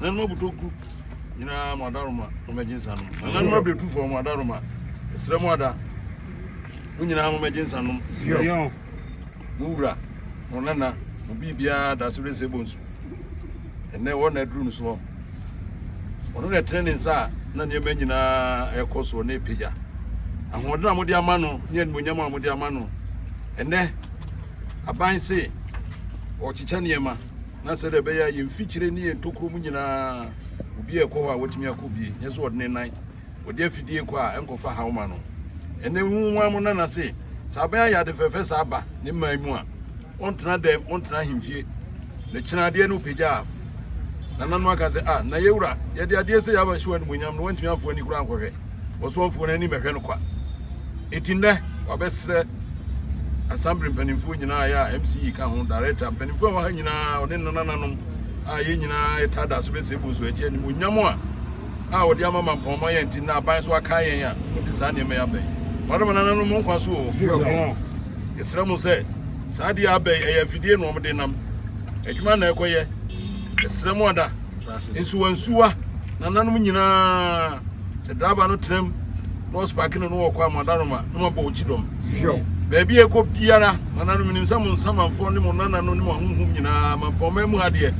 nananom abotɔkuru nyinaa mo adaroma mo mɛgye nsa nom nananom abirɛtufoɔ mo adaroma ɛsrɛ mo ada mo nyinaa mo mɛgye nsa nom mo wura mo nana mo biribiara da so resɛ bɔ nsu ɛnɛ wɔn na aduru no soɔ ɔno na ɛtene ne nsa a na nneɛma nyinaa ɛkɔ soɔ na ɛpagya ahoɔden a mode ama no ne animonyam a mode ama no ɛnɛ aban se ɔkyekyɛ nneɛma na sɛdeɛ ɛbɛyɛ a yɛn mfikyire ne yɛn tokuro mu nyinaa obi a ɛkɔ hɔ a wɔtumi akɔ bie nyɛ sɛ ɔde ne nan wɔde afidie kɔ a ɛnkɔfa haw ma no ɛnɛ hu ho amo nana se sɛ abɛn ayɛ ade fɛfɛ saa ba ne mman mu a ɔntena dɛm ɔntena ahemfie na kyena adeɛ no pagya a nana no aka sɛ a ah, na yɛwura yɛde adeɛ sɛ yɛaba hyiwa no mu nyam no wantumi amfo ani koraa nkɔhwɛ ɔsɔfoɔ no anim ɛhwɛ no kwa eti nnɛ wabɛsrɛ asambere mpanimfoɔ nyinaa yɛ a mce ka ho director mpanimfoɔ a wɔha nyinaa ɔne nanananom a yɛn nyinaa ɛta da so bɛsɛ bu so agye anim onyam a a wɔde ama ma mpɔnma yɛn ti na aban so aka yɛn a wɔde saa nneɛma yɛ abɛn wɔde ma nananom nkwa so o yɛsrɛ mo sɛ saa deɛ abɛn ɛyɛ afidie na wɔde nam adwuma na ɛkɔyɛ yɛsrɛ mo ada nsuwansuwa nananom nyinaa sɛ driver no tenam na ɔsopake no no wɔkɔ amadaroma na mabɔ wo kyidɔm baabi a ɛkɔ biara nananom nim sɛ mo nsamanfoɔ ne mo nanano ne mo ahohom nyinaa mampɔma mu ha deɛ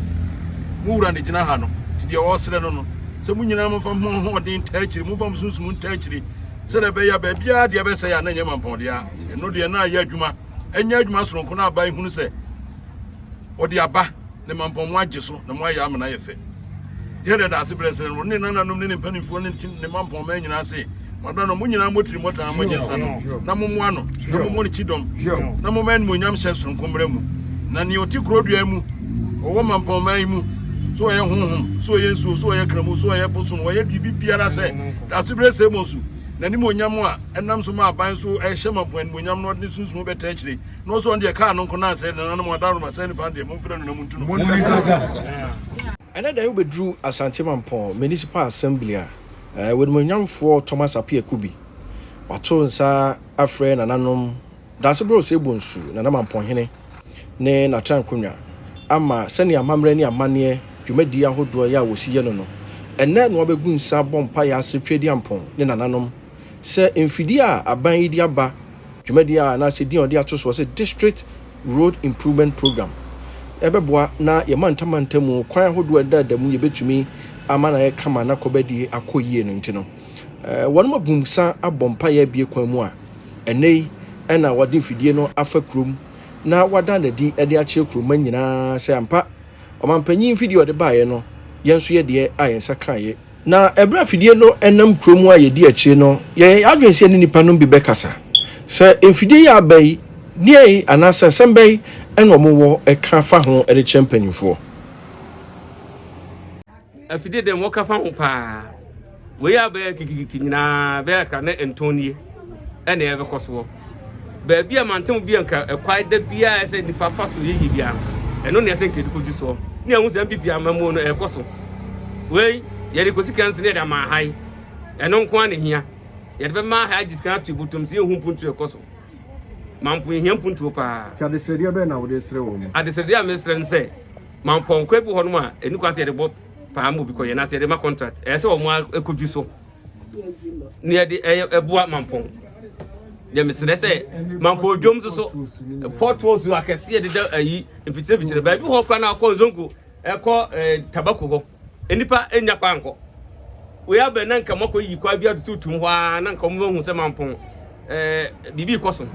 mo wura ne gyina ha no nti deɛ ɔresrɛ no no sɛ mo nyinaa momfa mo ahoɔden ntaa akyiri momfa mo sunsum ntaa akyiri sɛdeɛ ɛbɛyɛ a baabiara deɛ ɛbɛsɛe a na ɛnyɛ mampɔdeɛ a ɛno deɛ na ayɛ adwuma ɛnyɛ adwuma soronko no aba ɛhunu sɛ ɔde aba ne mampɔn mu agye so na moayɛ amena yɛ fɛ. Dawid da ase berɛ srɛ no ne nananom ne ne mpanimfoɔ ne ne mampɔn mmaa nyinaa se, Madɔ no, mo nyinaa motiri mmɔtaa mo nsa no na mommoa no na mommɔ no kyidɔm na momma animuonyam hyɛ soronko mmara mu. Na nea ɔte kuro dua mu, ɔwɔ mampɔn mmaa yi mu, so ɔyɛ honhom, so ɔyɛ nsuo, so ɔyɛ kramu, so ɔyɛ bosom, ɔyɛ biribi biara sɛ daase berɛ sɛ mo nsu, n'animuonyam a ɛnam so ma aban so ɛhyɛ mampɔn animuonyam no ɔde ne sunsum bɛtaa akyire. na ɔsɛ ɔno deɛ kaa no nko na asɛe ne nanom adanom asɛe ne paa deɛ momfrɛ no na montu no Ɛnɛ da yi wobɛduru Asante Mampɔn Municipal Assembly a, w'animuonyamfoɔ Thomas Appiah Kubi wato nsa afrɛ nananom Dansegorɔ Osei Bonsu, Nana Mampɔnhene ne n'atrankonnwa ama sɛnea amammerɛ ne amanneɛ dwumadie ahodoɔ yɛ a wɔsi yɛ no no, ɛnnɛ na wabɛgu nsa abɔ mpaeɛ asere Tweediampɔn ne nananom. Sɛ mfidie a aban yi de aba dwumadie a anaasɛ din a wɔde ato soɔ sɛ District Road Improvement Programme ɛbɛboa na yɛn mantam mantam mu kwan ahodoɔ a ɛda da mu yɛbɛtumi ama no ayɛ kama na kɔbadie akɔ yie no nti no, wɔnom abumsa abɔ mpaeɛ abue kwan mu a ɛnnɛ yi na wɔde mfidie no afa kurom na wɔada no adi de akyerɛ kuromma nyinaa sɛ ampa ɔmampanyin mfidie a ɔde baeɛ no yɛn nso yɛ deɛ a yɛn nsa kaeɛ. Na ɛberɛ a afidie no nam kuro mu a yɛdi akyire no, yɛyɛ yɛn adwene sɛ yɛne nnipa nom bi bɛkasa, sɛ mfidie yi a aba yi, deɛn anaa sɛ nsɛm bɛn na wɔn wɔ ka fa ho de kyerɛ mpanimfoɔ. Afidie deɛ wɔka fa ho paa, wei a aba yi a kikikiki nyinaa bɛyɛ akra ne ntɔn nie na ɛbɛkɔ soɔ. baabi a mantam bi a nka ɛkwae da biara ɛsɛ nipa fa so yɛ yie biara no ɛno na ɛsɛ nka yɛde kɔdi soɔ ne ɛho sɛ mpp amamuo no ɛrekɔ so wei yɛde kɔsi kansi ne yɛde ama ha yi ɛno nko ara na hia yɛde bɛma ha agye sika ato botom sɛ yɛhu mpuntuo ɛkɔ so mampo yɛhia mpuntuo paa nti adesrɛdeɛ bɛn na wode srɛ wɔ mu adesrɛdeɛ a mesrɛ no sɛ mampɔnkɔ bi hɔ nom a ɛni kwa sɛ yɛde bɔ paa ma obi kɔyɛ na sɛ yɛde ma contract ɛyɛ sɛ wɔn akɔdwi so ne ɛde ɛboa mampɔn deɛ mesrɛ sɛ mampɔ odwom nso so pɔtɔ su akɛseɛ deda ayi mfikyiremfikyire baabi hɔ kora no akɔ nzonko ɛkɔ tabako hɔ nnipa nnya kɔ ankɔ wei abɛ na nka mɔkɔ yi kwa bi atututum hɔ a na nka ɔmo hu sɛ mampɔn ɛɛ biribi kɔ so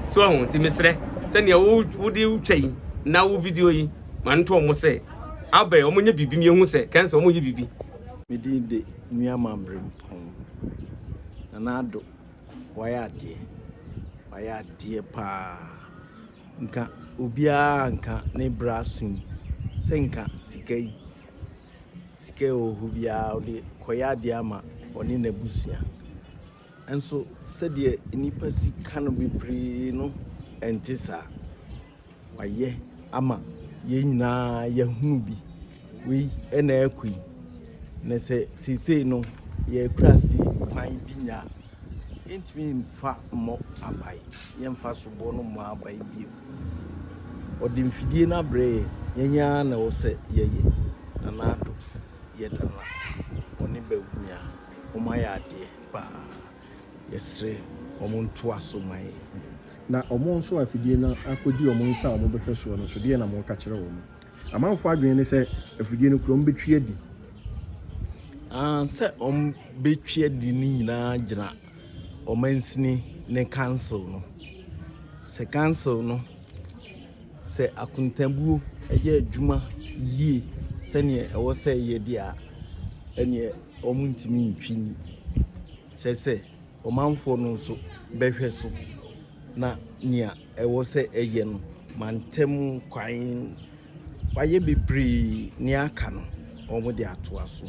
so ɛho nti mesrɛ sɛnea wode wotwa yi na wo video yi ma no to ɔmo sɛ abɛ ɔmo nyɛ biribi mmienu sɛ kɛnsɛ ɔmo yɛ biribi Me din de Nuamah Brempong, Nana Addo, wayɛ adeɛ, wayɛ adeɛ paa. Nka obiara nka ne bra so yi sɛ nka sika yi, sika ɛwɔ hɔ biara ɔde kɔyɛ adeɛ ama ɔne n'abusua. Nanso sɛdeɛ nnipa si ka no bebree no, ɛnte saa. Wayɛ ama yɛn nyinaa yɛahunu bi. Wei na ɛrekɔ yi, na sɛ seesei no yɛkura ase kwan bi nya a, yɛntumi mfa mmɔ abae, yɛmfa soboɔ no mmɔ abae bio. Ɔde mfidie no abrɛ yɛn, yɛn ara na ɛwɔ sɛ yɛyɛ, na n'adɔ, yɛda no ase, ɔne Bawumia. Wɔn ayɛ adeɛ paa. Yɛsrɛ wɔn ntoa so ma yɛn. Na wɔn nso a afidie no akɔdi wɔn nsa a wɔbɛhwɛ soɔ no nso, deɛn na moreka kyerɛ wɔn? Amanfoɔ adwene ne sɛ afidie no kura wɔbɛtwi adi. Ah, sɛ wɔbɛtwi adi no nyinaa gyina ɔmansini ne council no. Sɛ council no, sɛ akontabuo yɛ adwuma yie sɛdeɛ ɛwɔ sɛ ɛyɛ deɛ a, ɛneɛ wɔntumi ntwi nni, kyerɛ sɛ, ɔmanfoɔ no nso bɛhwɛ so na nea ɛwɔ sɛ ɛyɛ no, mantam kwan, wɔayɛ bebree, nea aka no, wɔde atoa so.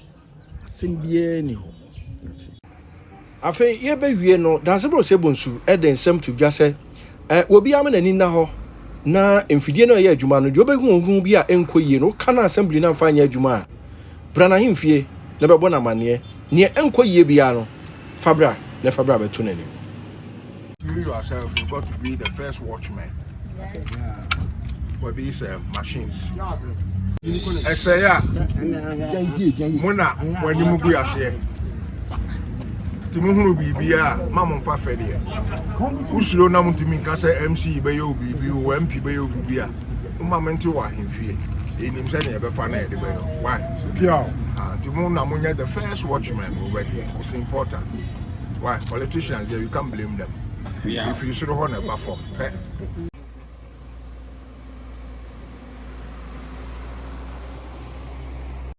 Asɛm biara nni hɔ. Afei yɛrebewie no, Dansebo Osei-Bonsu de nsɛm to dwa sɛ, Obiara ma n'ani nna hɔ na mfidie no a ɛyɛ adwuma no, deɛ wobɛhu ɔhuhu bi a ɛnkɔ yie no, woka no a assembly no amfa anyɛ adwuma a, bra n'ahemfie na bɛbɔ no amanneɛ. Deɛ ɛnkɔ yie biara no, fa bra na fa bra bɛto n'anim. You yourself, you've got to be the first watchman. Yes. Yeah. For these uh, machines. ɛsɛ yɛ a mo na mo anim gu aseɛ nti mo hunu biribi a ma mo nfa fɛ deɛ wosuro na mo ntumi nka sɛ mc bɛyɛ o biribi o mp bɛyɛ o biribi a mo ma mo nte wɔ ahemfie enim sɛ nea ɛbɛfa na yɛde bɛyɛ why nti mo na mo nyɛ the first watchman over here it's important. why politicians there you can't blame them yeah. if you soro hɔ na ɛba fam pɛ